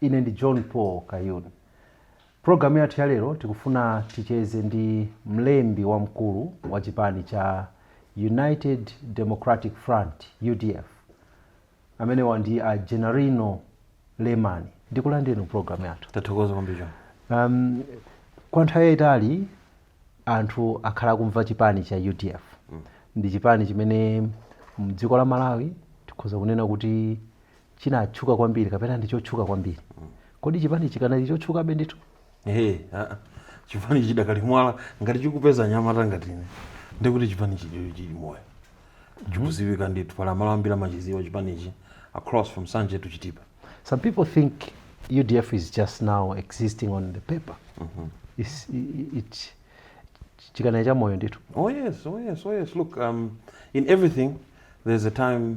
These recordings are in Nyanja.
Ine ndi John Paul Kayuni. Pulogalamu yathu ya lero tikufuna ticheze ndi mlembi wamkulu wa chipani cha United Democratic Front, udf. Amenewa ndi a Gennarino Lemani. Ndikulandireni mu pulogalamu yathu. Tathokoza kwambiri John. Um, kwa nthawi yayitali anthu akhala akumva chipani cha udf ndi chipani chimene mdziko la malawi tikhoza kunena kuti chinatchuka kwambiri kapena ndi chotchuka kwambiri kodi chipanichi chikanali chotchukabe ndithu Ehe, ah, ah. chipani chidakali mwala ngati chikupeza anyamata ngati ine nde kuti chipani chili chili moyo chikuziwika ndithu pali malo ambiri amachiziwa chipanichi across from Nsanje to chitipa some people think udf is just now existing on the paper It's- i- i- it- chikanali cha moyo ndithu Oh yes, oh yes, oh yes. Look, um, in everything, there's a time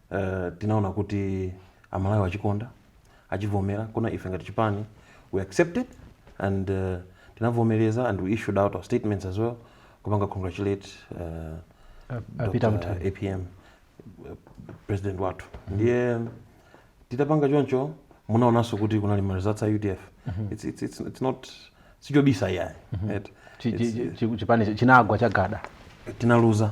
Uh, tinaona kuti amalawi achikonda achivomera koma ife ngati chipani we accepted and uh, tinavomereza and we issued out our statements as well kupanga congratulate uh, a Peter Mutharika apm uh, president wathu ndiye titapanga choncho munaonanso kuti kunali ma results a udf it's, it's, it's, it's not sichobisa iyayi Right? Chi- chi- chi- chipani chinagwa chagada tinaluza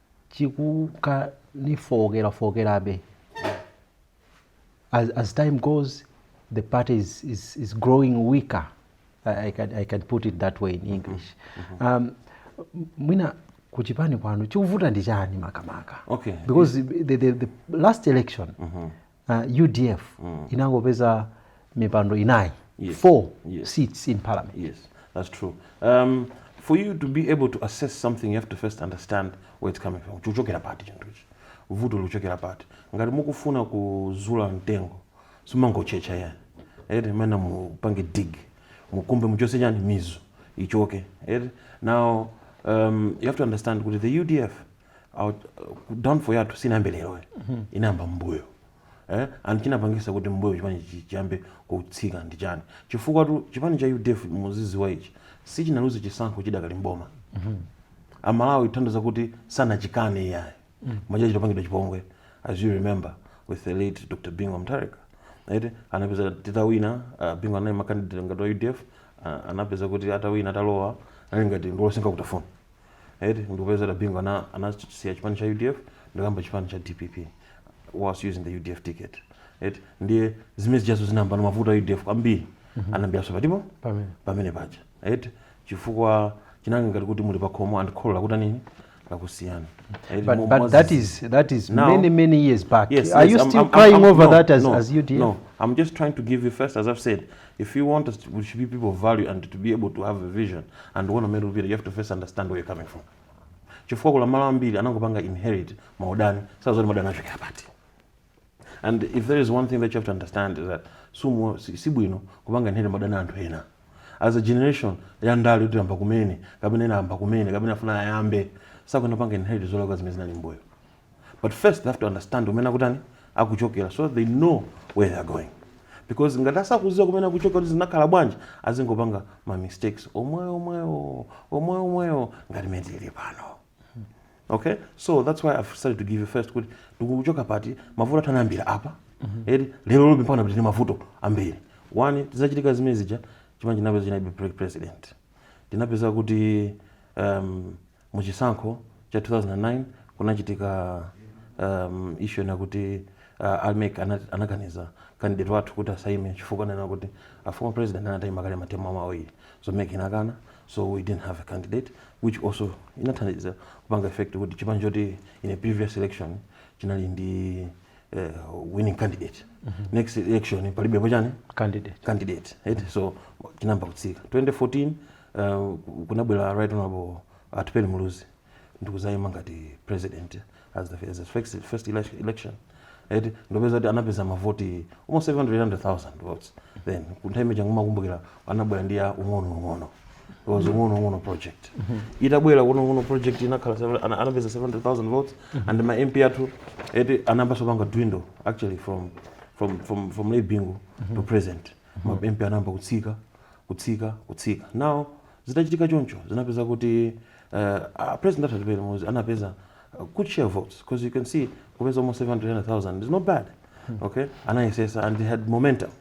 chikunka nichifowokerafowokerabe as, as time goes the party is, is, is growing weaker I, I, can, i can put it that way in english um, mwina kuchipani kwanu chikuvuta ndi chani makamaka Okay. because the, the, the last election uh, udf mm. inangopeza mipando inayi yes. four yes. seats in parliament yes. That's true. Um, for you to be able to assess something you have to first understand where it's coming from chikuchokera pati chinthu ichi vuto likuchokera pati ngati mukufuna kuzula mtengo simungotchetcha ayi eti mumayenera mupange dig mukumbe muchose chani mizu ichoke eti now um, you have to understand kuti the udf uh, downfall yathu sinayambe lero inayamba mbuyo eh and chinapangisa kuti mbuyo chipani chi- chiyambe kutsika ndi chani chifukwatu chipani cha UDF muziziwa ichi sichinaluze chisankho chidakali mboma amalawi tanthauza kuti sanachikane iyayi mmalo mwake tinapangidwa chipongwe as you remember with the late dr bingu mutharika right anapezeka titawina uh, bingu anaima candidate ngati wa udf uh, anapezeka kuti atawina atalowa anali ngati ndolo sindingatafune eti ndikupeza a bingu ana anasiya chipani cha udf ndikuyamba chipani cha dpp was using the udf ticket eti ndiye zimene zijazo zinayambano mavuto a udf kwambiri anayambiranso patipo pamene pamene paja eti chifukwa chinali ngati kuti muli pakhomo and kholo lakutani nini lakusiya Eti But, mo- but mwazi- that is that is Now- many many years back. Yes, Are yes, you I'm- still I'm- crying I'm- over no, that as, no, as UDF? No, I'm just trying to give you first, as I've said, If you want us to, we should be people of value and to be able to have a vision and kuona mmene tikupita, you have to first understand where you're coming from. Chifukwa kuli malo ambiri anangopanga inherit maudani, sadziwa zoti maudani achokera pati. And if there is one thing that you have to understand is that sumo si, si bwino kupanga inherit maudani a anthu ena. As a generation ya ndale kuti ayamba kumene, kapena ena ayamba kumene, kapena afuna ayambe, sakuyenera kupanga inherit zolakwa zimene zinali m'mbuyo. but first they have to understand kumene akutani akuchokera so they know where they are going because ngati asakuziwa kumene akuchokera kuti zinakhala bwanji azingopanga ma mistakes omwewo omwewo omwewo omwewo ngati mmene tili pano okay so that's why i've started to give you first kuti tikuchoka pati mavuto athu anayambira apa eti lero lobe mpaka pano tili ndi mavuto ambiri one zitachitika zimene zija chipani chinapezeka chilibe president tinapeza kuti um, Mu chisankho cha 2009 kunachitika um, issue ina kuti uh, a mec anakaniza candidate wathu kuti asaime chifukwa ananena kuti a former president anataima kale matemu awo awiri so mec inakana so we didn't have a candidate which also inathandiza kupanga effect kuti chipani choti in a previous election chinali ndi eh, winning candidate next election palibepo chani candidate candidate right? so chinayamba kutsika 2014 uh, kunabwera right honorable atupele muluzi ndikuzayima ngati president as the, as the first, first elec- election right? ndikupeza kuti anapeza mavoti almost 700000 votes then kunthawi imene ija ngati mumakumbukira anabwera ndi ya ung'onoung'ono It was ung'onoung'ono project itabwera ung'onoung'ono project inakhala seven- ana- anapeza 700,000 votes and ma mp athu eti anayambaso kupanga dwindle actually from from from from late bingu to present ma mp anayamba kutsika kutsika kutsika now zitachitika choncho zinapeza kuti uh, a president atupele muluzi anapeza uh, good share of votes because you can see kupeza almost 700,000 is not bad okay anayesesa and they had momentum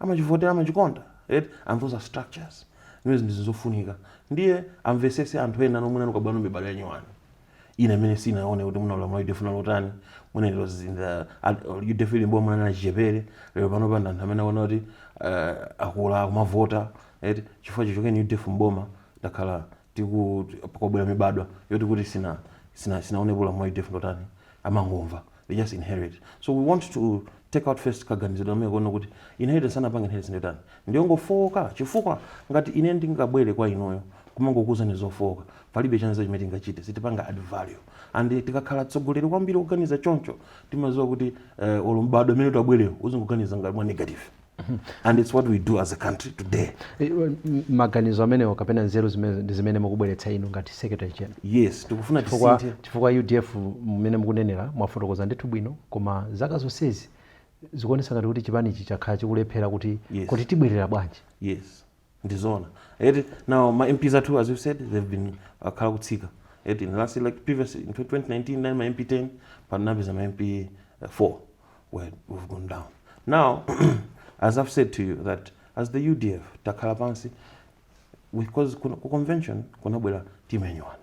amachivotera amachikonda eti and those are structures zimenezi ndi zinthu zofunika ndiye amvesese anthu ena nomwe nanu kapena mibadwo yanyuwani ina imene sinaone kuti mwina ulamuliro wa udf unali otani mwina it was in the ud- udf ili mboma munali achichepere lero pano pano ndi anthu amene akuona kuti uh, akula akumavota eti chifukwa chichokereni udf mboma ndakhala tikubwera mibadwa yoti kuti sina sina sinaonepo ulamuliro wa udf ndotani amangomva they just inherit so we want to take out first kaganizidwe amene kuona kuti inheritance anapanga inheritance ndotani ndiyongofowoka chifukwa ngati ine ndingabwere kwa inuyo kumangokuuzani zofowoka palibe chanzeru chimene tingachite sitipanga add value and tikakhala atsogoleri ambiri oganiza choncho timaziwa kuti eh, olo m'badwo umene utabwerewo uzingoganiza ngati mwa negative and it's what we do as a country today Eh, well, m- maganizo amenewo kapena nzeru zimene mukubweretsa inu ngati secretary general yes tikufuna tisinthe chifukwa udf mmene mukunenera mwafotokoza ndithu bwino koma zaka zonsezi zikuonesa ngati kuti chipanichi chakhala chikulephera kuti Yes. kuti tibwerera bwanji yes ndi zoona eti now ma mps athu as you said they've been akhala akutsika eti in last like previous in 2019 nine ma mp 10 panapeza ma mp 4 where we've gone down now as i've said to you that as the udf takhala pansi because kuna- ku convention kunabwera team ya nyuwani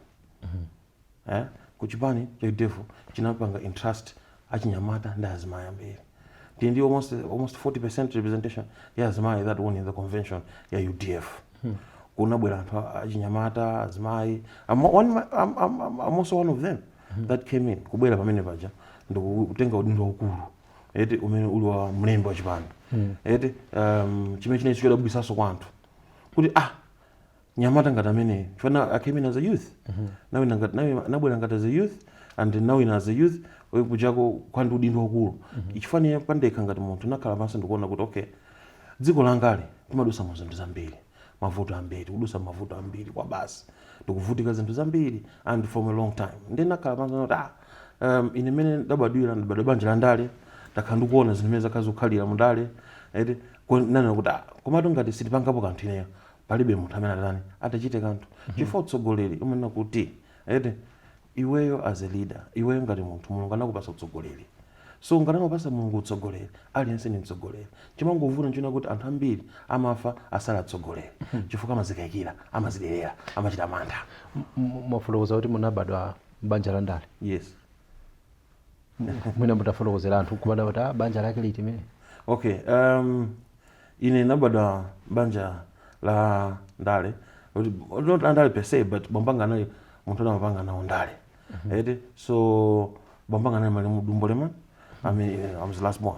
eh? kuchipani cha udf chinapanga entrust achinyamata ndi azimayi ambiri tili ndi almost, almost 40 representation ya azimayi that won in the convention ya udf hmm. kunabwera anthu a- achinyamata azimayi I'm, one, I'm, I'm, I'm I'm also one of them that came in kubwera pamene paja ndikutenga udindo waukulu eti umene uli wa mlembi wa chipani eti um, chimene chinali chodabwitsanso kwa anthu kuti ah mnyamata ngati ameneyo chifukwa i came in as a youth nawina ngati nawi- nabwera ngati as a youth and nawina as a youth eh, kuja kukhala ndi udindo wakulu chifukwa ine pandekha ngati munthu nakhala pansi ndikuona kuti okay dziko langali timadusa mu zinthu zambiri mavuto ambiri tikudusa mavuto ambiri kwa basi tikuvutika zinthu zambiri and from a long time ndi nakhala pansi kuti ah um, ine mene ndabadwira ndabadwa banja la ndale ndakhala ndikuona zinthu mene zakhala zikukhalira mu ndale eti ko- nanena kuti ah komatu ngati sitipangapo kanthu ineyo palibe munthu amene atani atachite kanthu chifukwa utsogoleri umanena kuti eti iweyo as a leader iweyo ngati munthu mulungu anakupasa utsogoleri so ngati anakupasa mulungu utsogoleri aliyense ndi mtsogoleri chimangovuta nchonena kuti anthu ambiri amafa asanakhale atsogoleri chifukwa amazikayikira amaziderera amachita mantha M- m- mwafotokoza kuti munabadwa m'banja la ndale yes mwina mutafotokozera anthu kubadwa ati ah, banja lake liti mene okay um, ine ndinabadwa banja la ndale Kuti- not la ndale per se but bambanga anali munthu amene amapanga nawo ndale eti so bambanga anali malemu Dumbo Lemani I mean, I was last born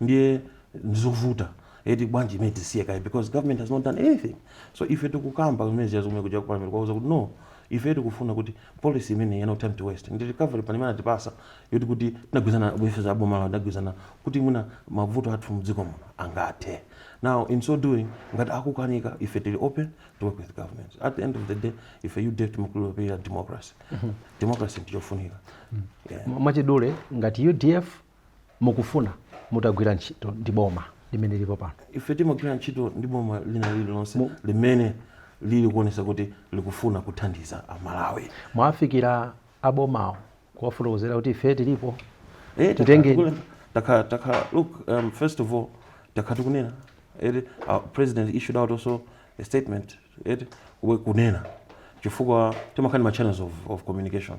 ndiye ndizovuta eti bwanji imene tisiye kaye because government has not done anything so ife tikukamba kumene zija zomwe kuja kupamira kwauza kuti no ife tikufuna kuti policy imene ya no time to waste ndi recovery plan imene atipatsa yoti kuti titagwirizana bwenzi aboma lawo titagwirizana kuti mwina mavuto athu mdziko muno angathe now in so doing ngati akukanika ife tili open to work with government at the end of the day ife UDF timakhulupirira democracy democracy ndichofunika yeah. M- mwachidule ngati udf mukufuna mutagwira ntchito ndi boma limene lilipo pano? Ife timagwira ntchito ndi boma lina lililonse Mu- limene lili kuonesa kuti likufuna kuthandiza Amalawi. Mwafikira abomawo kuwafotokozera kuti ife tilipo? Eh, takhala Titenge- tikule- takhala takhala look um, first of all takhala tikunena eti our president issued out also a statement eti we kunena chifukwa timakhala ndi ma channels of, of communication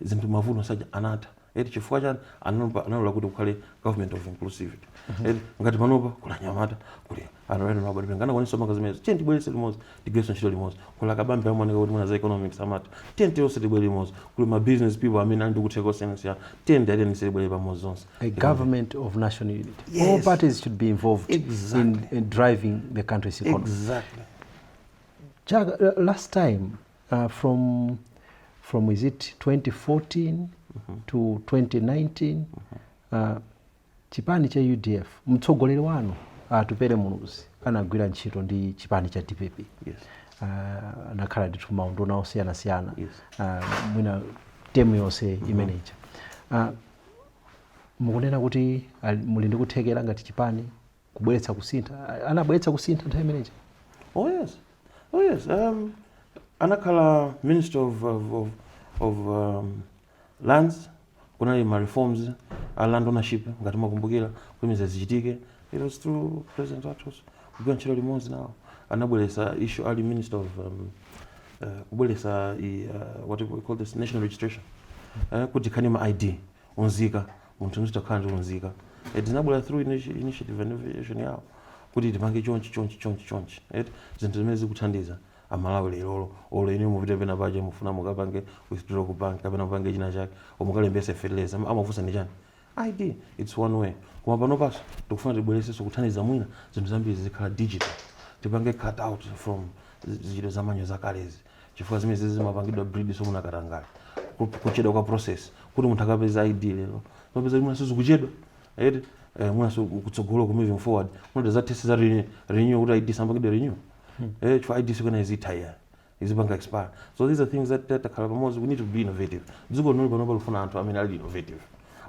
zinthu mavuto aja anatha eti chifukwa chani analopa analola kuti kukhale government of inclusivity eti ngati panopa kuli anyamata kuli anthu ena mabadwe angakwanitsa manga zimenezo tiye tibweretse limodzi tigwirenso ntchito limodzi kuli akabambe amaoneka kuti mwina za economics amati tiye tionse tibwere limodzi kuli ma business people amene ali ndi kutheka osiyanasiyana tiye ndiyateni sitibwere pamodzi zonse a government of national unity all Yes. parties should be involved in, Exactly. in driving the country's economy exactly Chaka, uh, last time Uh, from from is it 2014 mm -hmm. to 2019 mm -hmm. uh, chipani cha udf mtsogoleri wanu Atupele uh, muluzi anagwira ntchito ndi chipani cha dpp yes. uh, anakhala ndithu maunduna osiyanasiyana yes. uh, mwina temu yonse mm -hmm. imeneja uh, mukunena kuti uh, muli ndi kuthekera ngati chipani kubweretsa kusintha A- anabweretsa kusintha nthawi imeneja Oh yes, oh yes. Um, anakhala minister of of, of, of um, lands kunali ma reforms a land ownership ngati mukukumbukira kuimiza zichitike it was through president Atu's kugwira ntchito limodzi nawo anabweretsa issue ali minister of um, uh, kubweretsa i, uh, what do we call this national registration uh, kuti tikhale ndi ma id unzika munthu azitha kukhala ndi unzika eti zinabwera through initi- initiative and innovation yawo kuti tipange chonchi chonchi chonchi chonchi eti zinthu zimene zikuthandiza amalawi lerolo olo ine mupite pena pake mufuna mukapange withdraw ku bank kapena mupange china chake olo mukalembetse fertilizer ama- amafunsa ndi chani id its one way koma panopaso tikufuna tibweretsenso kuthandiza mwina zinthu zambiri zikhale digital tipange cut out from zintchito za manual zakalezi chifukwa zimene zizi zimapangidwa breed so kuna katangale Ku- kuchedwa kwa process kuti munthu akapeza id lero umapeza kuti mwinanso zikuchedwa eti eh, mwinanso kutsogolo ku moving forward mwina za test za renew- renew kuti id isamapangidwe renew eh chifukwa id sikuti izitha ayi izipanga expire so these are things that that takhala pamodzi we need to be innovative dziko lino panopa likufuna anthu amene ali innovative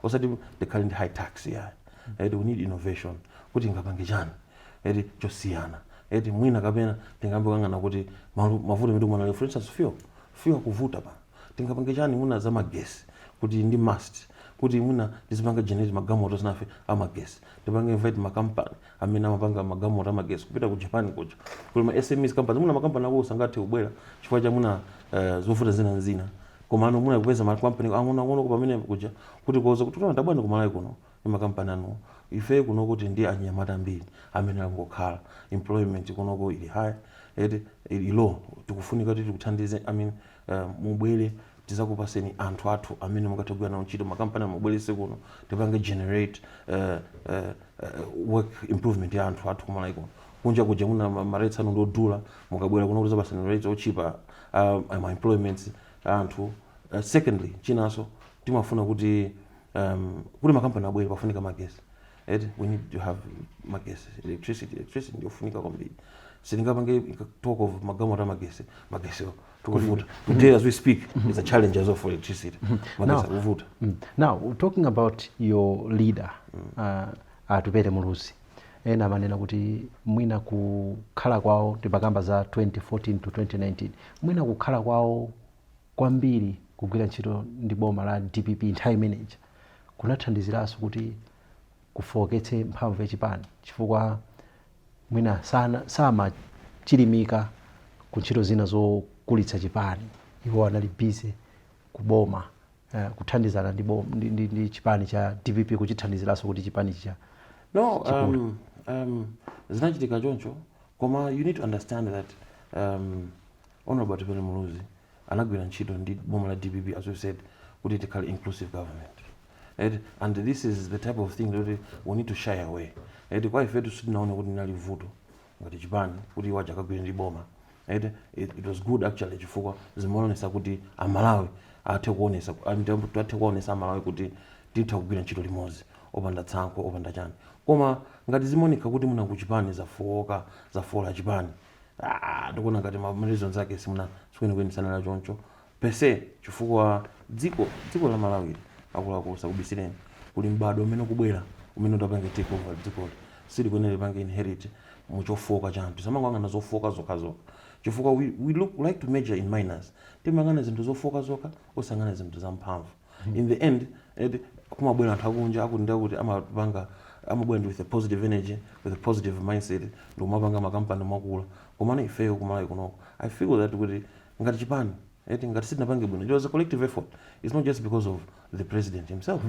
osati tikhale ndi high tax yeah. eh, we need innovation kuti tingapange chani eti chosiyana eti mwina kapena tingakambe kangapo kuti malu- mavuto amene tikumana nawo, for instance fuel fuel kuvuta pa tingapange chani mwina za magesi kuti ndi must kuti mwina tizipanga generate magalimoto zinazake amagesi tipange invite makampani amene amapanga magalimoto amagesi kupita ku japan kuja kuli ma smes companies mwina makampani akulu sangathe kubwera chifukwa cha mwina eh, zovuta zina ndi zina komano mwina kupeza makampani ang'onoang'ono amene kuja kuti kuwauza kuti taonani tabwerani kumalawi kuno ndi makampani anuwo. Ife kunoko tili ndi anyamata ambiri amene akungokhala, employment kunoko ili high eti, ili low, tikufunika kuti tikuthandizeni, I mean mubwere tizakupaseni anthu athu amene mungathe kugwira nawo ntchito, makampani anu mubwerese kuno tipange generate work employment ya anthu athu ku Malawi kuno. Kunja kuja mwina ma rates anu ndi odula, mukabwera kunoko tizakupaseni ma rates otchipa a ma employments a anthu. Secondly, chinanso timafuna kuti. um, kuti makampani abwere pafunika magesi eti we need to have magesi electricity electricity ndiyofunika kwambiri sitingapange talk of magalimoto a magesi magesiwo akutivuta today as we speak is a challenge as well for electricity magesi Now- akuvuta Mm. Now, talking about your leader, uh, Atupele Muluzi, ena amanena kuti mwina kukhala kwawo tikakamba za 2014 to 2019 mwina kukhala kwawo kwambiri kugwira ntchito ndi boma la dpp nthawi imene ija kunathandiziranso kuti kufooketse mphamvu ya chipani chifukwa mwina sana- samachilimika ku ntchito zina zokulitsa chipani iwo anali busy kuboma eh, kuthandizana ndi, bom- ndi, ndi, ndi chipani cha dpp kuchithandiziranso kuti chipani chija no um, um, zinachitika choncho koma you need to understand that um, Hon Atupele Muluzi anagwira ntchito ndi boma la dpp as we said kuti tikhale inclusive government eti and this is the type of thing loti we need to shy away eti kwa ifetu sitinaone kuti linali vuto ngati chipani kuti iwo aja akagwire ndi boma eti it, it was good actually chifukwa zimaonesa kuti amalawi athe kuonesa ati- athe kuonesa amalawi kuti titha kugwira ntchito limodzi opanda tsankho opanda chani koma ngati zimaoneka kuti mwina kuchipani zafowoka zafoola chipani Aaa ndikuona ngati ma reasons ake simuna sikwenikweni sanali achoncho per se chifukwa dziko dziko la Malawi ili akuluakulu sakubisireni kuli m'bado umene ukubwerawu umene utapange take over dzikoli sukuyenera upange inherit mu chofooka cha anthu tisamangoyang'ana zofooka zokhazokha chifukwa we we look we like to major in minors timayang'ana zinthu zofooka zokha osayang'ana zinthu zamphamvu in the end eti kumabwera anthu akunja akuti ndi akuti amabwera ndi with a positive energy with a positive mindset ndikumapanga makampani nkumakula komano ifeyo ku Malawi kunoko i feel that kuti ngati chipani eti ngati sitinapange bwino it was a collective effort it's not just because of the president himself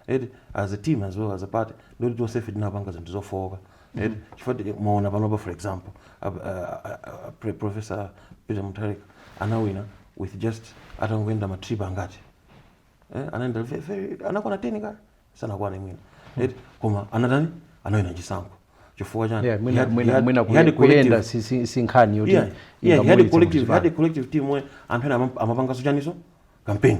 eti as a team as well as a party ndikuti tonsefe tinapanga zinthu zofowoka eti chifukwa ti- mwaona panopa for example a- a- a- a- pre- professor peter mutharika anawina with just atangoyenda matrip angati eh, anaenda ve- very- anakwana 10 kaya sanakwana mwina eti koma anatani anawina chisankho chifukwa chani Yeah, He mwina had- he mwina had- mwina he had kuye- kuyenda collective- si- si- si nkhani yoti yeah, yeah, he had a ingamuwinitse collective, he had a muchipani. collective team where anthu ena amam- amapangaso chaniso campaign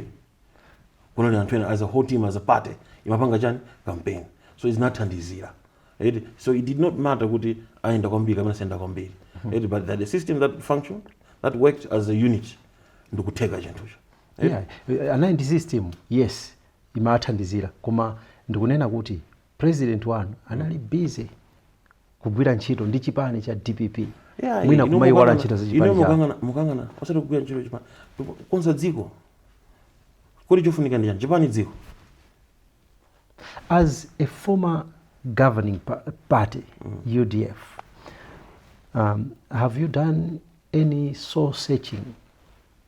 kunali anthu ena as a whole team as a party imapanga chani campaign so izinathandizira eti so it did not matter kuti ayenda kwambiri kapena sayenda kwambiri eti but that the system that function that worked as a unit ndikutheka chinthucho Yeah, eh, anali ndi system yes imathandizira koma ndikunena kuti president wanu anali busy kugwira ntchito ndi chipani cha dpp Yeah, mwina ino kumayiwala nkukangana- ntchito za ino chipani chawo nkukangana- nkukangana osati kugwira ntchito chipani kukonza dziko kodi chofunika ndi chani chipani dziko as a former governing pa- party udf um, have you done any soul searching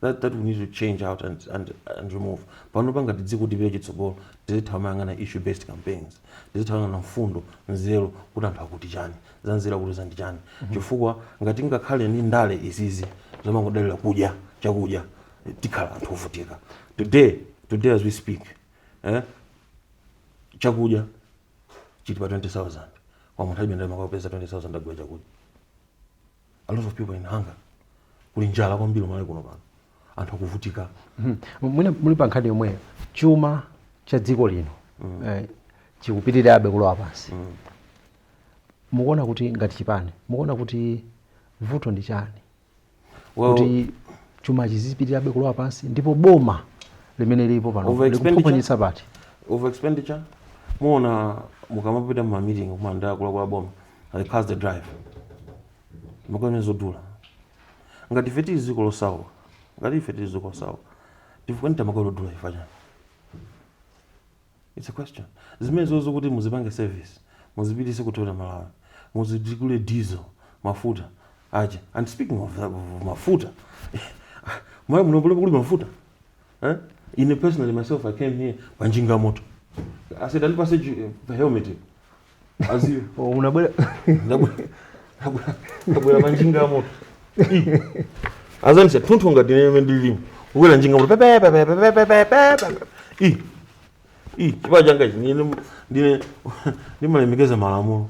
that, that we need to change out and, and, and remove pano pa ngati dziko tipite chitsogolo tizitha kumayang'ana issue based campaigns tizitha kumayang'ana mfundo nzeru kuti anthu akuti chani za nzeru akuti za ndi chani mhm. chifukwa ngati ngakhale ni ndale izizi zomangodalira kudya chakudya tikhala anthu ovutika today today as we speak eh, chakudya chili pa 20000 koma munthu alibe ndalama akapeza 20000 agula chakudya a lot of people in hunger kuli njala kwambiri Malawi kuno pano anthu akuvutika Mhm. mwina muli pa nkhani yomweyo chuma cha dziko lino eh, chikupitirirabe kulowa pansi mukuona kuti ngati chipani mukuona kuti vuto ndi chani Well- kuti chuma chizipitirirabe kulowa pansi ndipo boma limene lilipo pano Over expenditure? likuphonyetsa pati over expenditure muona mukamapita mu meeting kumanga akuluakulu a boma I pass the drive makamene zodula ngati ife tili dziko losauka ngati ife tili dziko losauka tifika nitamakolo dula ifa chani it's a question zimenezozo kuti muzipange service muzipitise ku Toyota Malawi muzidikule diesel mafuta aja and speaking of, that, of mafuta Malawi muno kuli kuli mafuta eh? ine personally myself i came here panjinga moto i said andipase ju- the helmet as you Oh, unabwera Ndabwe- ndabwe- ndabwera panjinga moto azandisa munthu ngati ine mmene ndilimu ukwera njinga moto pepepepepepepepepepe i i chipewa changa ichi ndine ndine ndimalemekeza malamulo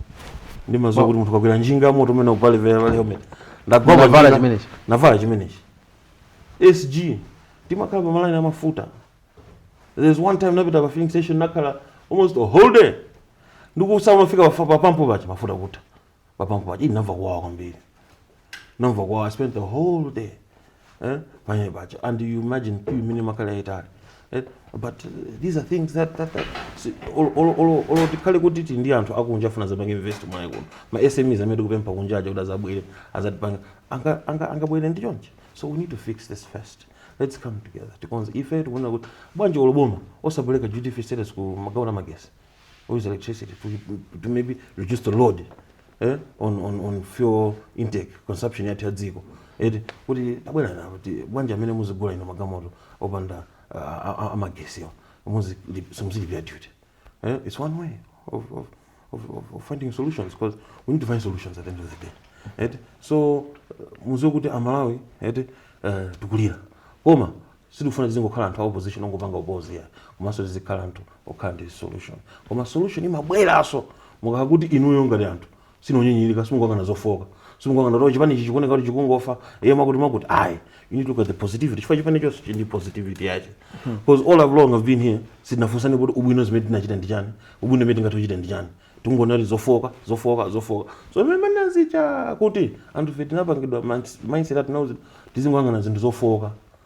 ndimaziwa kuti munthu ukakwera njinga moto umayenera uvale helmet ndagwa Unavala panjinga- chimenechi? navala chimenechi SG timakhala pa malaini a mafuta. There's one time napita pa filling station nakhala almost a whole day. Ndikusa unafika pa pa pampu paja mafuta kutha. Pa pampu paja ndinamva kuwawa kwambiri. Namva kuwawa I spent the whole day. Eh? Pa line paja and you imagine queue imene imakhala yaitali. Eh? But uh, these are things that that, that si- olo olo olo olo tikhale kuti tili ndi anthu akunja afuna azapange invest Malawi kuno. Ma SMEs amene tikupempha kunja aja kuti azabwere azatipanga anga anga angabwere ndi chonchi so we need to fix this first let's come together tikonze ife tikunena kuti bwanji olo boma osapeleka duty free status ku magalimoto amagesi use electricity to, to maybe reduce the load eh, on, on, on fuel intake consumption yathu ya dziko eti kuti tabwera na kuti bwanji amene muzigula inu magalimoto opanda ah, ah, ah, amagesiwa simuzilipira duty Eh? It's one way of, of, of, of, of finding solutions because we need to find solutions at the end of the day. Eti? So uh, muziwe kuti amalawi eti uh, tikulira koma sitikufuna tizingokhala anthu a opposition ongopanga oppose ayi komanso tizikhala anthu okhala ndi solution koma solution imabweranso mukakhala kuti inuyo ngati anthu sindinu onyinyilika simungoyang'ana zofooka simungoyang'ana kuti chipani ichi chikuoneka kuti chikungofa iye mwakuti mwakuti ayi you need to look at the positivity chifukwa chipani chonse chili ndi positivity yache because all along i've been here sitinafunsane kuti ubwino zimene tinachita ndi chani ubwino zimene tingathe kuchita ndi chani tingonena kuti zofooka zofooka zofooka so zimene manazicha kuti anthu ife tinapangidwa minds- mindset atinauzi tizingoyang'ana zinthu zofooka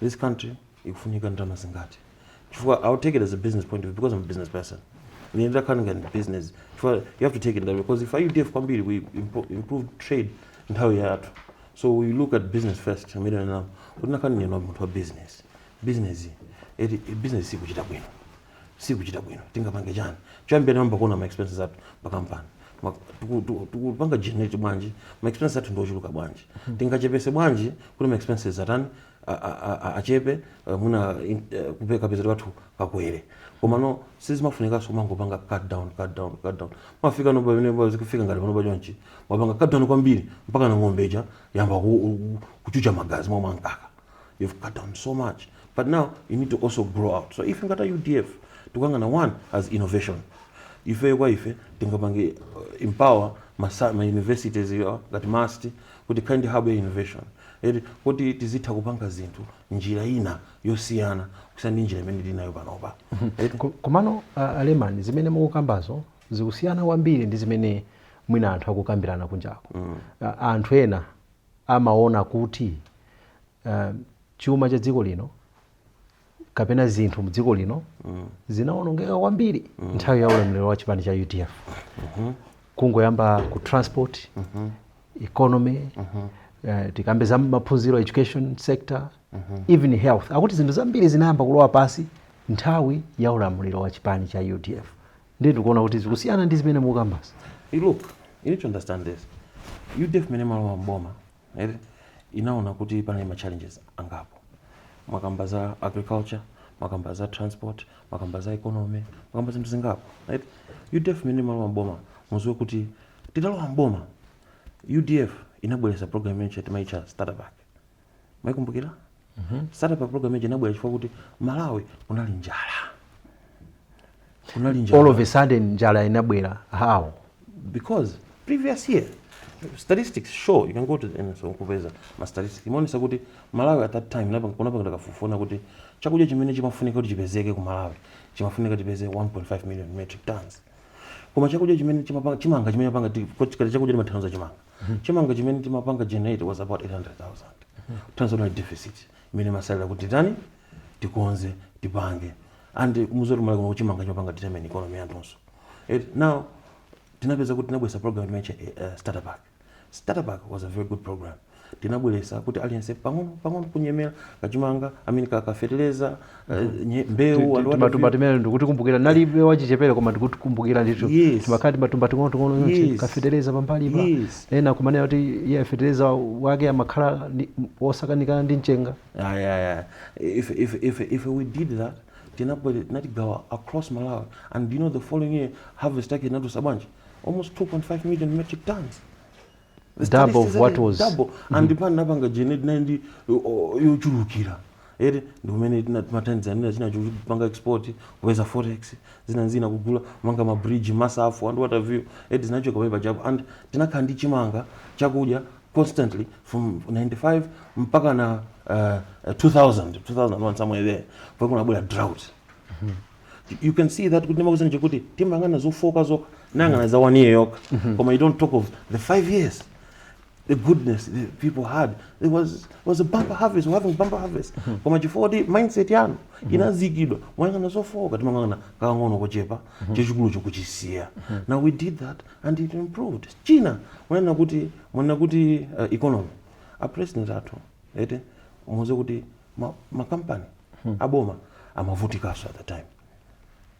this country ikufunika ndalama zingati chifukwa i'll take it as a business point of view because i'm a business person ine ndakhala ngati business chifukwa you have to take it that way because if udf kwambiri we impo- improve trade nthawi yathu so we look at business first amene anam kuti nakhala ndine munthu wa business business eti business sikuchita bwino sikuchita bwino tingapange chani choyambira tinayamba kuona ma expenses athu pa kampani Ma- tiku- tiku- tikupanga generate bwanji ma expenses athu ndi ochuluka bwanji tingachepese bwanji kuti ma expenses atani a- a- a- a- achepe eh, mwina in- eh, kupe- kapezedwe kathu kakwere komano sizimafunikanso kumangopanga cut down cut down cut down mumafikano pamene pa- zikufika ngati pano pachonchi mwapanga cut down kwambiri mpaka na ng'ombe ija yayamba ku- ku- kuchucha magazi mmalo mwa mkaka you've cut down so much but now you need to also grow out so ife ngati udf tikuyang'ana one as innovation ifeyo kwa ife tingapange uh, empower masa- ma universities yo, ngati MUST kuti ikhale ndi hub ya innovation eti kuti tizitha kupanga zinthu njira ina yosiyana kusiyana ndi njira imene tinayo panopa eti Ko- komano a- Alemani zimene mukukambazo zikusiyana kwambiri ndi zimene mwina anthu akukambirana kunjako A- anthu ena amaona kuti chuma cha dziko lino kapena zinthu mu dziko lino mm. zinawonongeka kwambiri mm. nthawi ya ulamuliro wa chipani cha UDF mm -hmm. kungoyamba ku transport mm -hmm. economy mm -hmm. Uh, eh, tikambe za maphunziro education sector mm -hmm. even health akuti zinthu zambiri zinayamba kulowa pansi nthawi ya ulamuliro wa chipani cha UDF ndiye ndikuona kuti zikusiyana ndi zimene mukukambazi You look you need to understand this udf imene imalowa m'boma ere inaona kuti panali ma challenges angapo mwakamba za agriculture mwakamba za transport mwakamba za economy mwakamba zinthu zingapo right udf imene imalowa m'boma mudziwe kuti titalowa m'boma udf inabweretsa program imene timaitcha starter pack Mwaikumbukira? Mhm. Starter pack program ija inabwera chifukwa kuti Malawi kunali njala. Kunali njala. All of a sudden njala inabwera. How? Because previous year statistics show you can go to the NSO kupeza ma statistics imaonesa kuti Malawi at that time napa kunapanga kafukufuku kuti chakudya chimene chimafunika kuti chipezeke ku Malawi chimafunika tipeze 1.5 million metric tons koma chakudya chimene chimapanga chimanga chimene chimapanga chakudya chimathandiza chimanga chimanga chimene timapanga generate was about 800000 tons ndiye deficit imene imatsalira kuti tani tikonze tipange and muziwe zoti Malawi kuno chimanga chimapanga determine economy yathunso It- now tinapeza kuti tinabweresa program timaitcha uh, starter pack starter pack was a very good program tinabweresa kuti aliyense pang'ono pang'ono kunyemerera kachimanga amene kafeteleza Eh, mbewu anthu timatumba ati- timene ndikutikumbukira ndinali wachichepere koma ndikutikumbukira ndithu Yes. timakhala timatumba ting'onoting'ono yonse Yes. kafetereza pambalipa Yes. ena kumanena kuti iyayi fetereza wake amakhala ndi- wosakanikana ndi mchenga Ayi, ayi, ayi. If, if, if, if we did that, tinabwera tinatigawa across Malawi. And you know the following year, harvest yake inatulutsa bwanji? Almost 2.5 million metric tons. double of what was double mm-hmm. and pan napanga tinali ndi yochulukira eee ndi imene imathandiza nina china chopanga export weza forex zina nzina kugula manga mabridge misewu and what have you eee zinachoka pamenepajapo and tinakhala ndi chimanga chakudya constantly from 95 mpaka na uh, 2000 2001 somewhere there pa kunabwera drought mm -hmm. you can see that kuti ndimakuuza nje kuti timayang'ana zofooka zokha tayang'ana za one year yoka mm -hmm. koma you don't talk of the five years the goodness the people had it was was a bumper harvest we having bumper harvest mm -hmm. koma chifukwa kuti mindset yanu mm -hmm. inazikidwa moyang'ana zofooka timayang'ana kang'ono kochepa mm -hmm. chachikulu nkuchisiya mm -hmm. now we did that and it improved china mwanena kuti mwanena kuti uh, economy a president athu eti a Muluzi kuti ma, ma company aboma amavutikaso at the time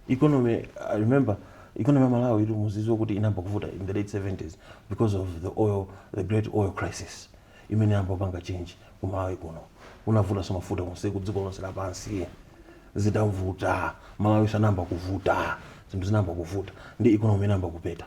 economy i remember economy ya malawi inu mudziwa kuti inayamba kuvuta in the late 70s because of the oil the great oil crisis imene inayamba kupanga chinthu ku malawi kuno kunavutanso mafuta konse ku dziko lonse lapansi zidavuta malawinso anayamba kuvuta zinthu zinayamba kuvuta ndi economy inayamba kupeta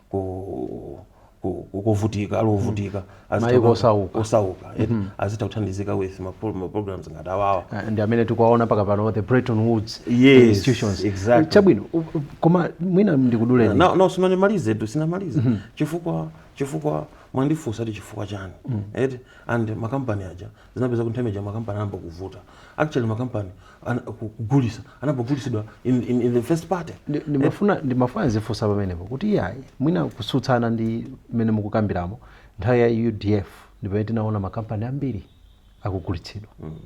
ku ku- ku- kuvutika ali ovutika azitha Maiko kukhala- osauka. osauka eti azitha kuthandizika with ma pro- ma programs ngati awawa Ah, ndi amene tikuwaona mpaka pano the Bretton Woods Yes, institutions exactly. chabwino u- u- koma mwina ndikuduleni no no sindinamalizetu sindinamalize chifukwa chifukwa mwandifunsa ti chifukwa chani eti and makampani aja zinapeza kuti nthawi ija makampani anayamba kuvuta actually makampani kugulisa anayamba kugulisidwa in, in, in the first party ndimafuna ndimafuna ndifunse pamenepo kuti iyayi mwina kusutsana ndi mmene mukukambiramu nthawi ya udf ndipamene tinaona makampani ambiri akugulitsidwa mm.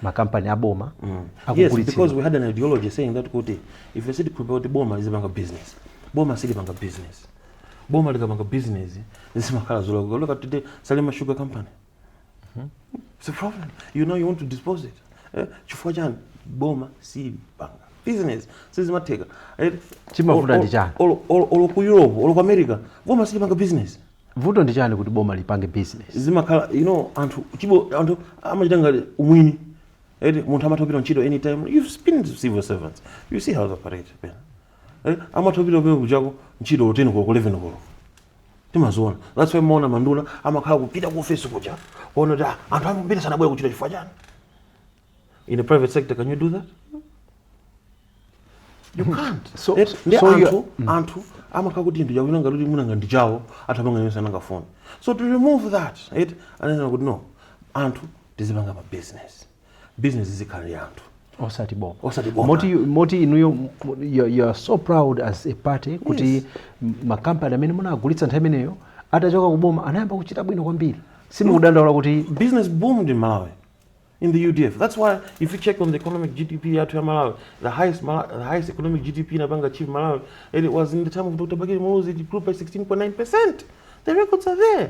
makampani aboma mm. yes, because we had an ideology saying that kuti ife sitikhulupirira kuti boma lizipanga business boma silipanga business boma likapanga business zimakhala zolakwika look at today salima sugar company Hmm? It's a problem. You know you want to dispose it. Eh, chifukwa chani boma silipanga business sizimatheka eh, chimavuta ndi chani olo ku europe olo ku america boma silipanga business vuto ndi chani kuti boma lipange business zimakhala you know anthu chibo anthu amachita ngati umwini eti eh, munthu amatha kupita ntchito anytime you've been civil servants you see how they operate pena amatha kupita pena kuchoka ku ntchito 10 koloko 11 koloko timaziona that's why mumaona manduna amakhala kupita ku office kuja kuona kuti ah, anthu ambiri sanabwere kuntchito chifukwa chani in the private sector can you do that you hmm. can't so, eh, ndi so anthu you, mm. anthu amakhala kuti ndija kuti nanga kuti munanga ndichawo atha kupanga yonse anangafuna so to remove that it anena kuti no anthu tizipanga ma business bizinesi izikhala ndi anthu osati boma osati boma moti moti inuyo m- you, you are so proud as a party kuti Yes. m- makampani amene munagulitsa nthawi imeneyo atachoka ku boma anayamba kuchita bwino kwambiri simukudandaula kuti business boomed in Malawi in the UDF. That's why if you check on the economic GDP yathu ya Malawi, the highest Mala- the highest economic GDP inapanga achieve Malawi, and it was in the time of Dr. Bakili Muluzi it grew by 16.9%. The records are there.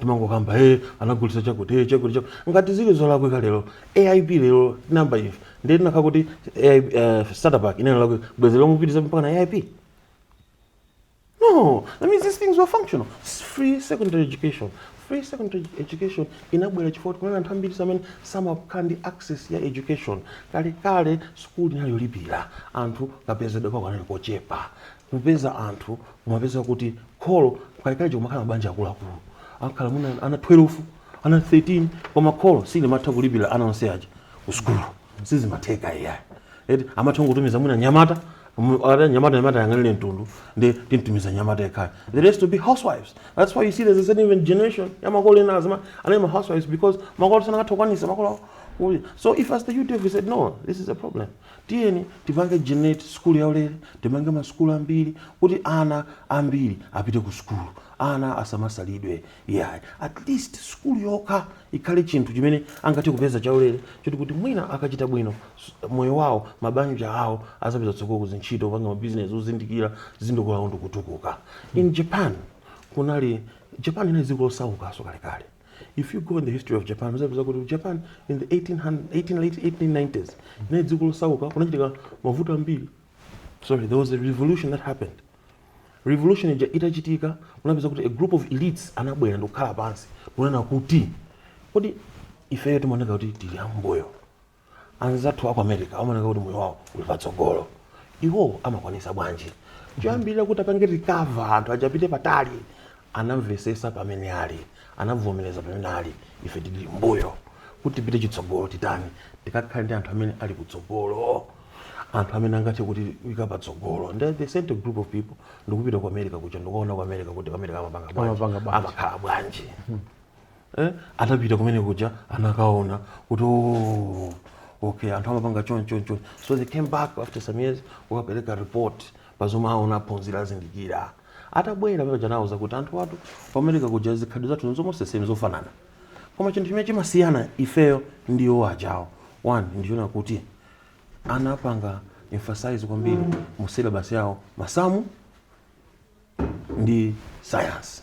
timangokamba e anagulisa chakuti e chakuti chakuti ngati zili zolakwika lero AIP lero nanga ife ndiye tinakakhala kuti AIP, eh, starter pack inali yolakwika bwezi lero mukupitiliza mpaka na AIP no that means these things were functional It's free secondary education free secondary edu- education inabwera chifukwa kunali anthu ambiri samene samakhala ndi access ya education kalekale sukulu inali yolipira anthu kapezedwe kawo kanali kochepa kupeza anthu kumapeza kuti kholo kalekale kumakhala mabanja akuluakulu akhala mwina ana 12 ana 13 koma kholo silimatha kulipira ana onse aja ku sukulu sizimatheka iyayi eti amatha kutumiza mwina nyamata mu- ata nyamata nyamata ayang'anire mtundu nde timtumiza nyamata yekhayo the rest to be housewives that's why you see there's a certain even generation ya makolo ena azimayi anali ma housewives because makolo sankatha kukwanisa makolo awo. so if as the UDF we said no this is a problem Tiyeni tipange generate sukulu yaulere, tipange masukulu ambiri kuti ana ambiri apite ku sukulu, ana asamasalidwe iyayi. At least sukulu yokha ikhale chinthu chimene angathe kupeza chaulere choti kuti mwina akachita bwino moyo wawo, mabanja awo azapeza tsogolo ku zintchito, kupanga mabizinesi ozindikira, zizikula ndi kutukuka. In Japan kunali, Japan inali dziko losaukanso kalekale. if you go in the history of japan muzapeza kuti japan in the 1800, 18, late 1890s inali dziko losauka kunachitika mavuto ambiri sorry there was a revolution that happened revolution ija itachitika kunapezeka kuti a group of elites anabwera ndikukhala pansi kunena kuti kodi ifeyo timaoneka kuti tili ambuyo anzathu aku america amaoneka kuti moyo wawo uli patsogolo iwo amakwanisa bwanji choyambirira kuti apange recover nkuzapita patali anamvesesa pamene ali anavomereza pamene ali ife tili mbuyo kuti tipite chitsogolo titani tikakhale ndi anthu amene ali kutsogolo anthu amene angathe kutiika patsogolo nde they sent a group of people ndikupita ku america kuja ndikuona ku america kuti ku america amapanga Amapanga bwanji bwanji. amakhala bwanji eh? atapita kumene kuja anakaona kuti "Oh, okay anthu amapanga choni choni choni so they came back after some years kukapereka report pazomwe aona aphunzira azindikira atabwera pamene paja anauza kuti anzathu ku America kuja zikhadi zathu nzomwezi same zofanana koma chinthu chimene chimasiyana ifeyo ndi iwo ajawo one ndichonena kuti anapanga emphasize kwambiri mu syllabus yawo masamu ndi science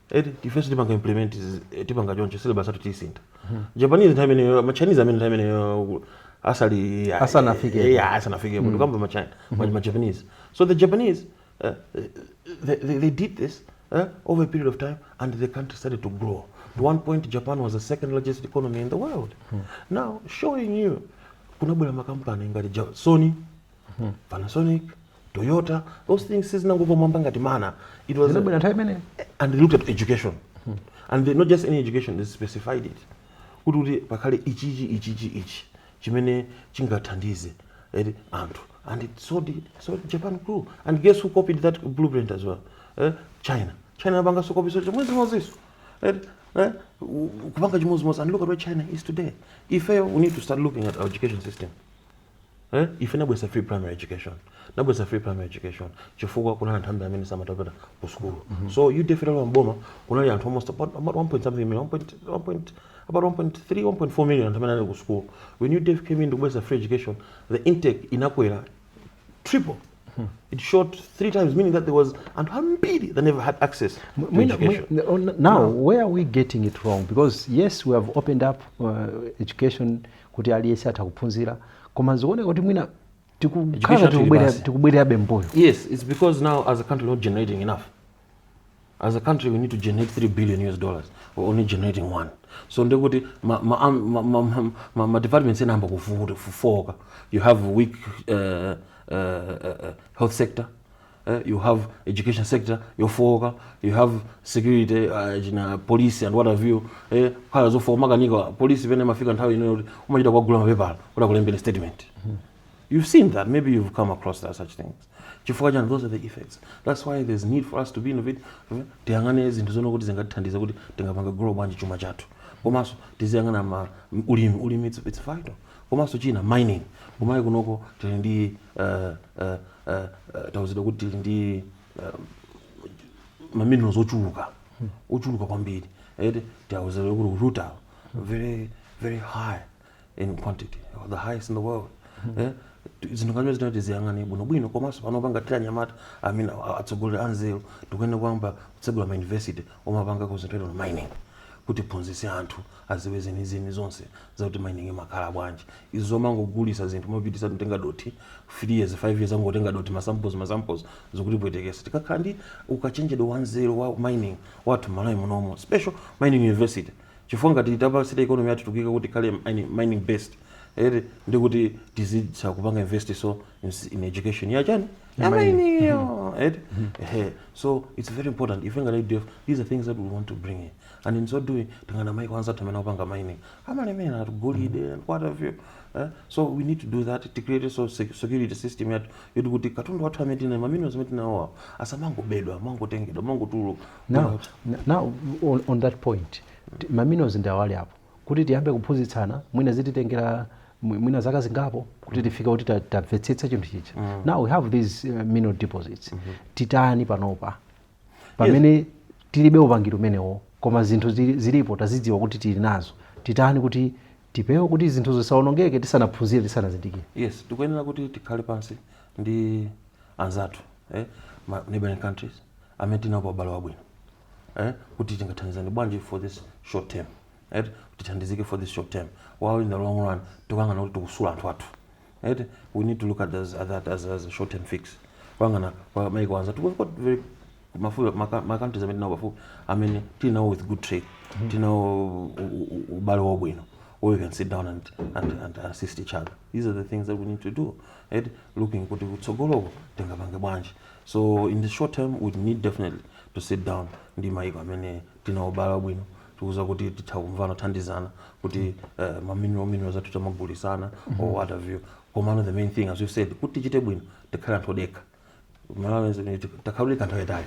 eti ife sitipanga implement izi, eh, tipanga choncho syllabus athu tisinthe japanese nthawi imeneyo machinese amene nthawi imeneyo ku- asali ya- Asanafikepo. eh, ya, asanafikepo ndikukamba majapa- majapanese so the japanese uh, they, they, they did this uh, over a period of time and the country started to grow at one point japan was the second largest economy in the world now showing you kunabwera makampani ngati Ja- sony panasonic toyota those things sizinangogwa mmwamba ngati mana it was and they looked at education and they, not just any education they specified it kuti kuti pakhale ichichi ichichi ichi chimene chingathandize eti anthu and it so japan grew and guess who copied that blueprint as well eh? china china anapangaso copy so chimodzimodziso eti eh? kupanga chimodzimodzi and look at where china is today ifeyo we need to start looking at our education system Eh? Ife nabwesa free primary education. Nabwesa free primary education. Chifukwa kunali anthu ambiri amene samatapita ku sukulu. Mm -hmm. So you defeated on Boma kunali anthu almost about, about 1 point something million, 1 point, about 1.3, 1.4 million anthu amene anali ku sukulu. When you def came in to kubwesa free education, the intake inakwera triple. Hmm. It shot three times, meaning that there was and ambiri that never had access to when, education. When, oh, now, now, where are we getting it wrong? Because yes, we have opened up uh, education kuti aliyense atha kuphunzira koma zikuoneka kuti mwina Education tikukhala yathu ili tikubwerera- basi. tikubwererabe mbuyo Yes, it's because now as a country we're not generating enough. As a country we need to generate 3 billion US dollars. We're only generating one. So ndekuti ma, ma, am- ma, ma, ma, ma, ma departments amayamba kufo- kufooka. You have weak uh, uh, uh, health sector. eh, you have education sector yofowoka you have security uh, china police and what have you eh, kukhala zofowoka amakanika police pena imafika nthawi ino yoti umachita kuwagula mapepala kuti akulembere statement you've seen that maybe you've come across that such things chifukwa chani those are the effects that's why there's need for us to be innovative tiyang'ane zinthu zoona zoti zingatithandize kuti tingapange grow bwanji chuma chathu komanso tiziyang'ana ma ulimi ulimi it's, it's vital komanso china mining kumalawi kunoko tili ndi tauzidwa kuti tili ndi maminerals ochuluka ochuluka kwambiri eti tauzidwa kuti rutile very very high in quantity the highest in the world eh? zinthu ngati zimenezi tiziyang'ane bwinobwino komanso pano pangafunikira anyamata atsogoleri anzeru tikuyenera kuyamba kutsegula ma university omapanga concentrate on mining kuti tiphunzitse anthu aziwe zenizeni zonse zakuti mining imakhala bwanji. Izi zomangogulisa zinthu mopitisa kutenga dothi 3 years 5 years angotenga dothi ma samples ma samples zikutipwetekesa. Tikakhala ndi ukachenjede wanzeru wa mining wathu mmalawi munomo special mining university chifukwa ngati tapanga state economy yathu tikuika kuti ikhale mining mining based eti ndikuti tizitha kupanga invest so ins in education ya chani Ya ya mining. mining yo eti ehe so its very important ife ngati udf these are things that we want to bring in and in so doing tiyang'ana maiko anzathu amene akupanga mining amalemera ndi gold and what have you eh? so we need to do that to create so sec- security system yathu yoti kuti katundu wathu amene tinawo maminerals amene tinawo asamangobedwa amangotengedwa amangotuluka now, n- now on, on that point ti- maminerals ndi awali apo kuti tiyambe kuphunzitsana mwina zititengera mwi- mwina zaka zingapo kuti tifike kuti ta- tamvetsetsa chinthu chija now we have these uh, mineral deposits titani panopa pamene yes. tilibe upangiri umenewo koma zinthu zilipo tazidziwa kuti tili nazo titani kuti tipewe kuti zinthuzo zisaonongeke tisanaphunzire tisanazindikire yes tikuyenera kuti tikhale pansi ndi anzathu eh? ma neighboring countries amene tinapo ubale wabwino eh? kuti tingathandizani bwanji for this short term right? tithandizike for this short term while in the long run tikuyang'ana kuti tikusula anthu athu Right? We need to look at as, at that as, as a short term fix. Kuyang'ana kwa maiko anzathu we've got very mafuta maka- ma countries amene tinawo pafupi amene tinawo with good trade tinawo u- u- u- ubale wabwino where we can sit down and, and, and assist each other these are the things that we need to do right? looking kuti kutsogoloko tingapange bwanji so in the short term we need definitely to sit down ndi maiko amene tinawo ubale wabwino tikudziwa kuti titha kumvana kuthandizana kuti eh, maminero minerals athu timagulitsana or what have you komano the main thing as you said kuti tichite bwino tikhale anthu odekha Malawi is- it- takhala odekha nthawi yaitali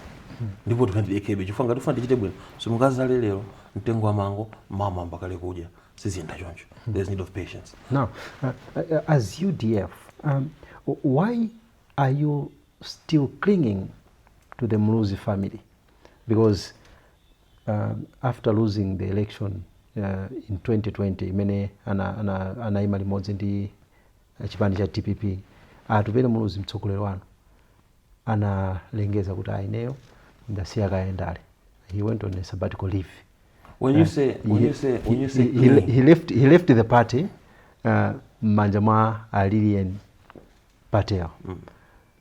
ndipo tikhale tidekhebe chifukwa ngati ufuna tichite bwino simungadzale lero mtengo wa mango mawa mmayamba kale kudya siziyenda choncho there's need of patience Now, uh, uh, as UDF, um, w- why are you still clinging to the Muluzi family? because uh, after losing the election uh, in 2020 imene anaima ana, ana anaima limodzi ndi uh, chipani cha dpp atupele muluzi mtsogoleri wanu analengeza kuti aineyo ndasiya kaye ndale he went on a sabbatical leave when you say when you say when you say he, he, cling, he left he left the party uh, mmanja mwa alilian patel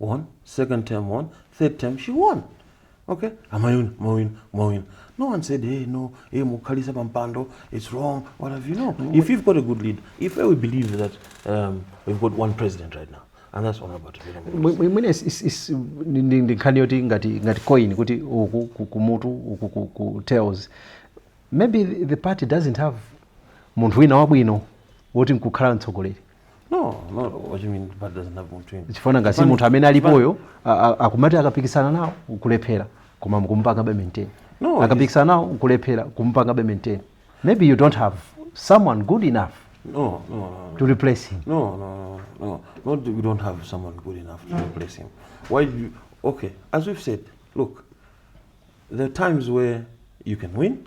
won second term won third term she won okay amayuni mawini mawini no one said hey no hey mukhalisa pampando it's wrong what have you know if you've got a good leader if we believe that um, we've got one president right now and that's all about it imene ndi nkhani yoti ngati ngati coin kuti uku kumutu uku ku tails maybe the party doesn't have munthu wina wabwino woti nkukhala mtsogoleri no no what you mean but doesn't have munthu ina chifana ngati munthu amene alipoyo a- a- akumati akapikisana nawo nkulephera koma mukumpanga be maintain No, akapikisana nawo nkulephera kumpanga be maintain maybe you don't have someone good enough no no no no. to replace him No, no, no, no. Not that we don't have someone good enough to replace him. Why do you? Okay, as we've said, look, there are times where you can win,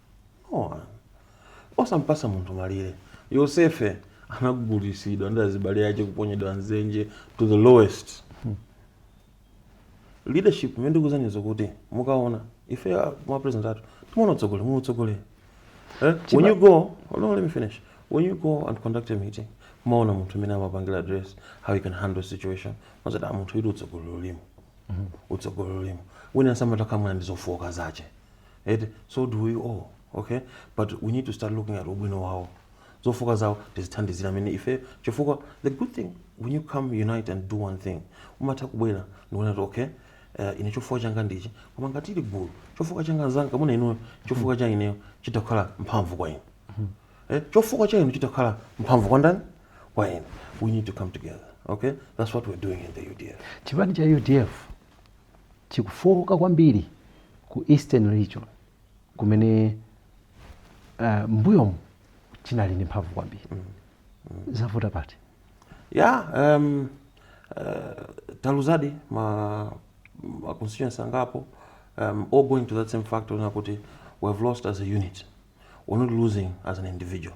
Oh, osampatsa munthu malire yosefe anagulitsidwa ndi azibale ache kuponyedwa mdzenje to the lowest hmm. leadership imene ndikuuzaniyo kuti mukaona ife ah, ma president athu timaona utsogoleri mu utsogoleri eh? when you go hold on, let me finish when you go and conduct a meeting mumaona munthu mmene amapangira address how you can handle situation mumati a ah, munthu uyu utsogoleri ulimo mm-hmm. utsogoleri ulimo wina samatha kamba ali ndi zofooka zache eti so do we all okay but we need to start looking at ubwino wawo zofooka zawo tizithandizira mmene ife chifukwa the good thing when you come unite and do one thing umatha kubwera ndikuona kuti okay uh, ine chofooka changa ndichi koma ngati ili gulu chofooka changa mnzanga mwina inuyo chofooka cha ineyo chitha kukhala mphamvu kwa inu eh, chofooka cha inu chitha kukhala mphamvu kwa ndani kwa ine we need to come together okay that's what we're doing in the udf chipani cha udf chikufooka kwambiri ku Eastern region kumene uh, mbuyomu chinali ndi mphamvu kwambiri mm. mm. zavuta pati ya yeah, um, uh, eh, taluzadi ma, ma constituency angapo um, all going to that same factor nakuti we have lost as a unit we're not losing as an individual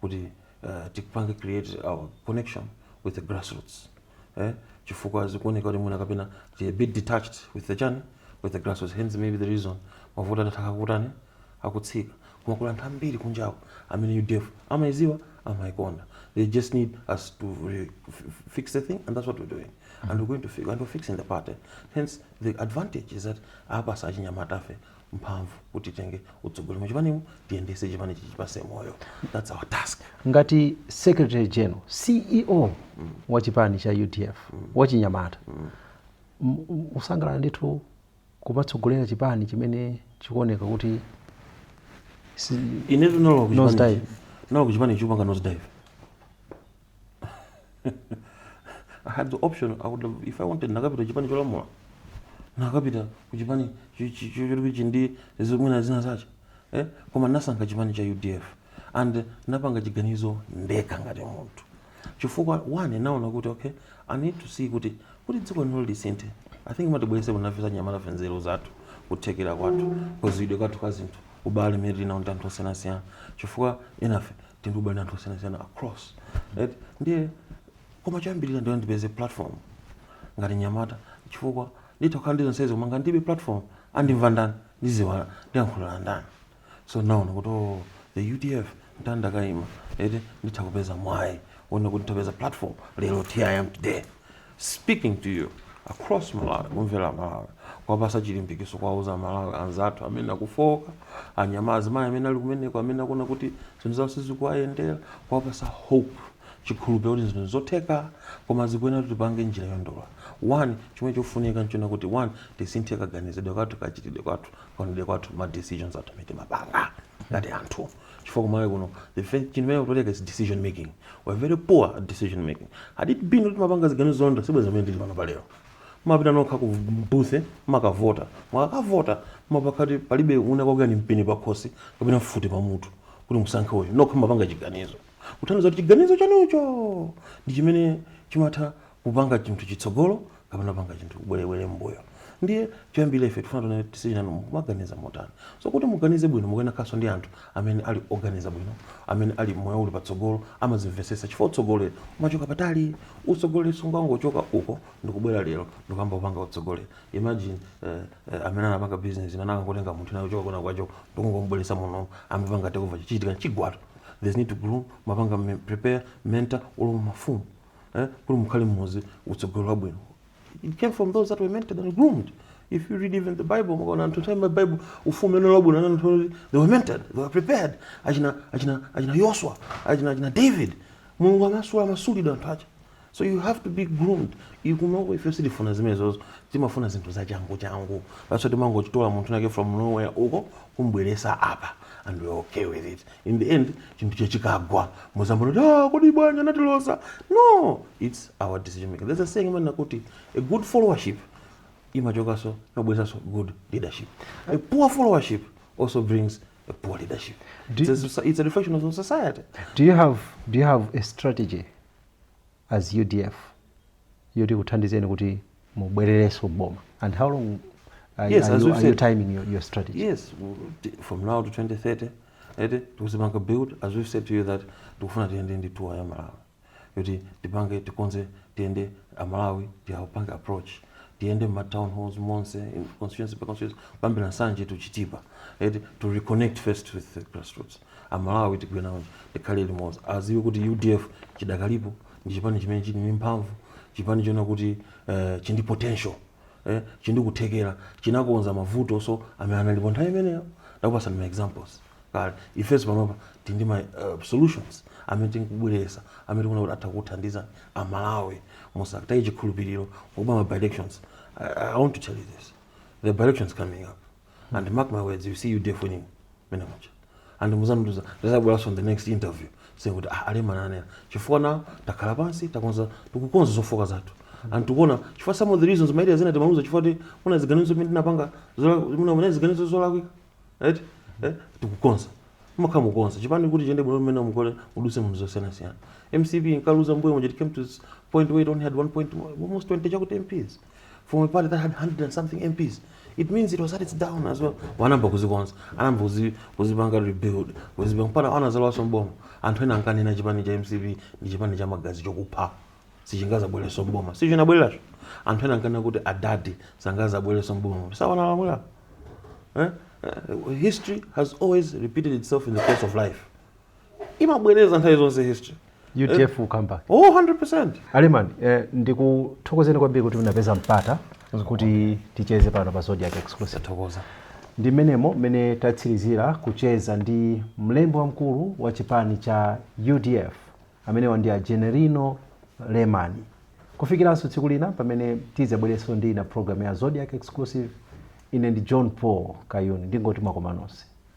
kuti uh, tipange create our connection with the grassroots eh? chifukwa zikuoneka kuti mwina kapena tili a bit detached with the chani with the grassroots hence maybe the reason mavoti adatha akutani akutsika koma kuli anthu ambiri kunjawo amene udf amayiziwa amayikonda they just need us to re- f- f- fix the thing and that's what we're doing and we're going to fix and we're fixing the party hence the advantage is that apasa achinyamatafe mphamvu kuti titenge utsogoleri mu chipanimu tiyendese chipani tichipase moyo that's our task ngati secretary general ceo mm. wa chipani cha udf mm. wachinyamata mm. mukusangalala ndithu kumatsogolera chipani chimene chikuoneka kuti inetu nalo kuchipani chikupanga nose dive I had the option, I would have, if I wanted, nakapita chipani cholamula. Nakapita kuchipani chokuti ndi zimwina zina zache. Eh? Koma nasankha chipani cha UDF. And napanga chiganizo ndekha ngati munthu. Chifukwa one naona kuti okay, I need to see kuti kuti dziko lino lisinthe. I think tibwerese kuno ifenso anyamatafe nzeru zathu kuthekera kwathu kaziwidwe kwathu kwa zinthu. ubale umene tili nawo ndi anthu osiyanasiyana chifukwa enafe tili ndi ubale ndi anthu osiyanasiyana across right ndiye koma choyambirira ndiye ndipeze platform ngati mnyamata chifukwa nditha kukhala ndi zonsezo koma ngati ndilibe platform andimva ndani ndiziwa ndiyankhulira ndani so naona kuti oh, the udf nditakaima eti nditha kupeza mwayi wonena kuti nditapeza platform lero here i am today speaking to you across malawi kumvera amalawi kuwapasa chilimbikitso kuwauza amalawi anzathu amene akufooka anyamata azimayi amene ali kumeneko amene akuona kuti zinthu zawo sizikuwayendera kuwapasa hope chikhulupiriro kuti zinthu zotheka koma zikuyenera kuti tipange njira yolondola one chomwe chofunika nchonena kuti one tisinthe kaganizidwe kathu kachitidwe kwathu kaonedwe kwathu ma decisions athu amene timapanga ngati anthu chifukwa kumalawi kuno the first chinthu chimene chikutilaka is decision making we're very poor at decision making had it been kuti timapanga ziganizo zolondola sibwenzi mmene tili pano palero mumapita nokha ku booth mumakavota mukakavota mapakati palibe wina wakuikirani mpeni pakhosi kapena mfuti pamutu kuti musankhe uyu nokha mumapanga chiganizo kutanthauza kuti chiganizo chanucho ndi chimene chimatha kupanga chinthu chitsogolo kapena kupanga chinthu kubwerera mbuyo ndiye choyambirira ife tikufuna tione tisinanu mukumaganiza motani so kuti muganize bwino mukuyenera kukhalanso ndi anthu amene ali oganiza bwino amene ali moyo uli patsogolo amazimvesesa chifukwa utsogoleri umachoka patali utsogoleri sungangochoka uko ndikubwera lero ndikuyamba kupanga utsogoleri imagine eh, eh, amene anapanga business imene akangotenga munthu naye kuchoka kwinakwake ndikungomubweresa muno amapanga takeover chichitika chigwatu there's need to groom mumapanga me- prepare mentor olo mafumu eh, kuti mukhale mmozi utsogoleri wabwino it came from those that were mentored and groomed if you read even the bible mukaona anthu nthawi ma bible ufumu ene lwabwino anani anthu oti they were mentored they were prepared achina achina achina yoswa achina achina david mulungu amasula amasula anthu ake so you have to be groomed kunoko ife sitifuna zimenezozo timafuna zinthu zachangu changu that's why timangochitola munthu winake from nowhere uko kumbweresa apa and we're okay with it in the end chinthucho chikagwa muzambono kuti ah, kodi bwanji anatiloza no its our decision making there's a saying imanena kuti a good followership imachokaso imabweresaso good leadership a poor followership also brings a poor leadership it's a, it's a reflection of society do you have do you have a strategy as udf yoti ikuthandizeni kuti mubwererenso m'boma and how long are, Yes, are, as you, we've are you said. timing your, your strategy yes w- t- from now to 2030 ete tikuzipanga rebuild as we've said to you that tikufuna tiyende ndi tour ya malawi yoti tipange tikonze tiyende amalawi tiapange approach tiyende ma town halls monse in constituency per constituency kuyambira nsanje to chitipa ete to reconnect first with the grassroots amalawi tigwirane nawo tikhale limodzi aziwe kuti udf chidakalipo ndi chipani chimene chili ndi mphamvu chipani choona kuti eh, chindi potential eh, chindi kuthekera chinakonza mavutonso amene analipo nthawi imeneyo ndakupasani ma examples kale ifenso panopa tili ndi ma uh, solutions amene tikubweresa amene tikuona kuti atha kuthandiza amalawi asakataye chikhulupiriro kuli ma by elections I, i want to tell you this the by elections coming up and mark my words you see udf winning mmene mutha and muzandiuza ndikazabweranso the next interview kuti ah, a lemani ananena chifukwa nawo takhala pansi takonza tikukonza zofoka zathu and tikuona chifukwa some of the reasons maidea zina timaluza chifukwa choti muna ziganizo zimene tinapanga zola- muna muna ziganizo zolakwika right eh, tikukonza mumakhala mukonza chipani kuti chiyende bwino mmene mukule muduse mu zinthu zosiyanasiyana mcp inkaluza mmbuyo muja it came to this point where it only had at one point almost 20 chakuti mps from a party that had 100 and something MPs. It means it was at its down as well. Anayamba kuzikonza, anayamba kuzi kuzipanga rebuild, kuzipanga pana anazalowanso m'boma. Anthu ena ankanena chipani cha MCP ndi chipani cha magazi chokupha. Sichingazabwerenso m'boma. Si icho chinabwera. Anthu ena ankanena kuti adadi sangazabwerenso m'boma. Si awa akulamula. Eh? Eh, History has always repeated itself in the course of life. imabwereza nthawi zonse history udf will come back oh 100% a lemani eh, ndikuthokozeni kwambiri kuti munapeza mpata kuti ticheze pano pa zodiac exclusive tathokoza ndi mmenemo mmene tatsirizira kucheza ndi mlembi wamkulu wa chipani cha udf amenewa ndi a generino lemani kufikiranso tsiku lina pamene tidzabwerenso ndi ina programu ya zodiac exclusive ine ndi john paul kayuni ndingoti mwakomanonse